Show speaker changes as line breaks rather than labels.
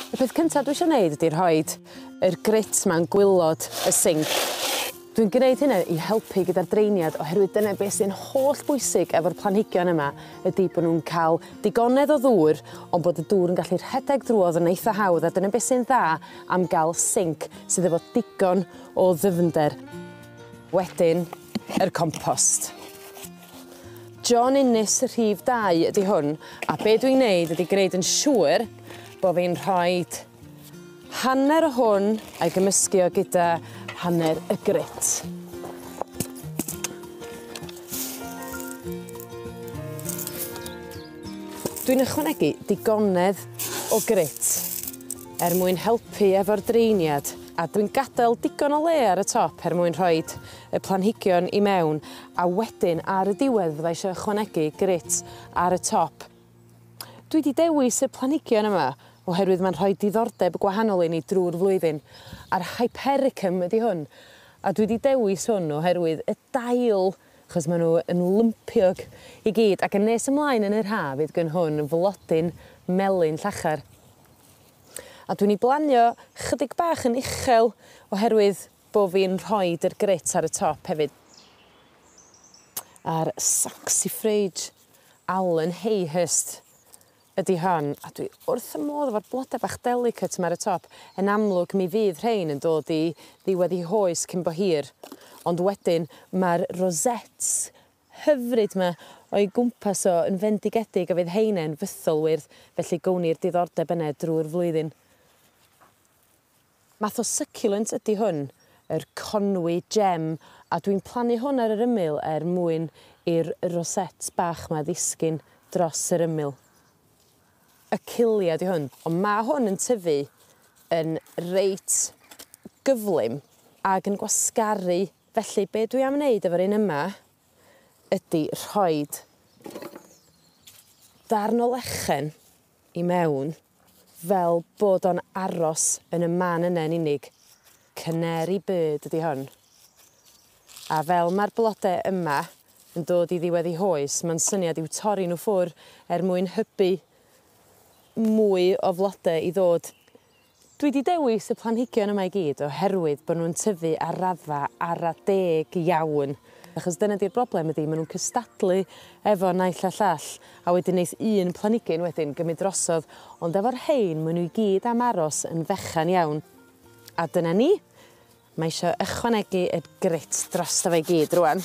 Y peth cynta dwi isio neud ydi rhoid yr grut 'ma'n gwilod y sinc. Dwi'n gneud hynna i helpu gyda'r dreiniad oherwydd dyna be' sy'n holl bwysig efo'r planhigion yma ydi bo' nw'n ca'l digonedd o ddŵr on' bod y dŵr yn gallu rhedeg drwodd yn eitha hawdd a dyna be' sy'n dda am ga'l sinc sydd efo digon o ddyfnder. Wedyn yr compost. John Innes y rhif 2 ydy hwn, a be dwi'n neud ydy gwneud yn siŵr bo fi'n rhoid hanner o hwn a'i gymysgu o gyda hanner y grit. Dwi'n ychwanegu digonedd o grit er mwyn helpu efo'r dreiniad a dwi'n gadael digon o le ar y top er mwyn rhoid y planhigion i mewn a wedyn ar y diwedd fydda i isio ychwanegu grit ar y top. Dwi 'di dewis y planhigion yma oherwydd mae'n rhoi diddordeb gwahanol i ni drwy'r flwyddyn, a'r Hypericum ydi hwn, a dwi 'di dewis hwn oherwydd y dail, achos maen nhw yn lympiog i gyd, ac yn nes ymlaen yn yr haf fydd gyn hwn flodyn melyn llachar. A dwi'n ei blanio chydig bach yn uchel oherwydd Bo fi'n rhoid yr grit ar y top hefyd. A'r saxifrage Allen Hayhurst ydi hon a dwi wrth y modd efo'r blode bach delicate 'ma ar y top. Yn amlwg mi fydd rhein yn dod i ddiwedd i hoes cyn bo hir ond wedyn ma'r rosettes hyfryd 'ma o'i gwmpas o yn fendigedig a fydd heinen fythol wyrdd felly gown ni'r diddordeb yne drwy'r flwyddyn. Math o succulent ydi hwn, yr Conwy Gem, a dwi'n plannu hwn ar yr ymyl er mwyn i'r rosette bach 'ma ddisgyn dros yr ymyl. Achillea 'di hwn, ond ma' hwn yn tyfu yn reit gyflym ag yn gwasgaru, felly be' dwi am neud efo'r un yma ydi rhoid darn o lechen i mewn fel bod o'n aros yn y man yna yn unig. Canary bird ydi hon. A fel mae'r blode yma yn dod i ddiwedd i hoes, mae'n syniad i'w torri nhw ffwr er mwyn hybu mwy o flode i ddod Dwi 'di dewis y planhigion yma i gyd oherwydd bo' nw'n tyfu ar raddfa ara deg iawn, achos dyna 'di'r broblem ydi ma' nw'n cystadlu efo naill a llall, a wedyn neith un planigyn wedyn gymyd drosodd, ond efo'r rhein ma' n'w i gyd am aros yn fechan iawn. A dyna ni. Mae isio ychwanegu y grit drosto fe i gyd rŵan.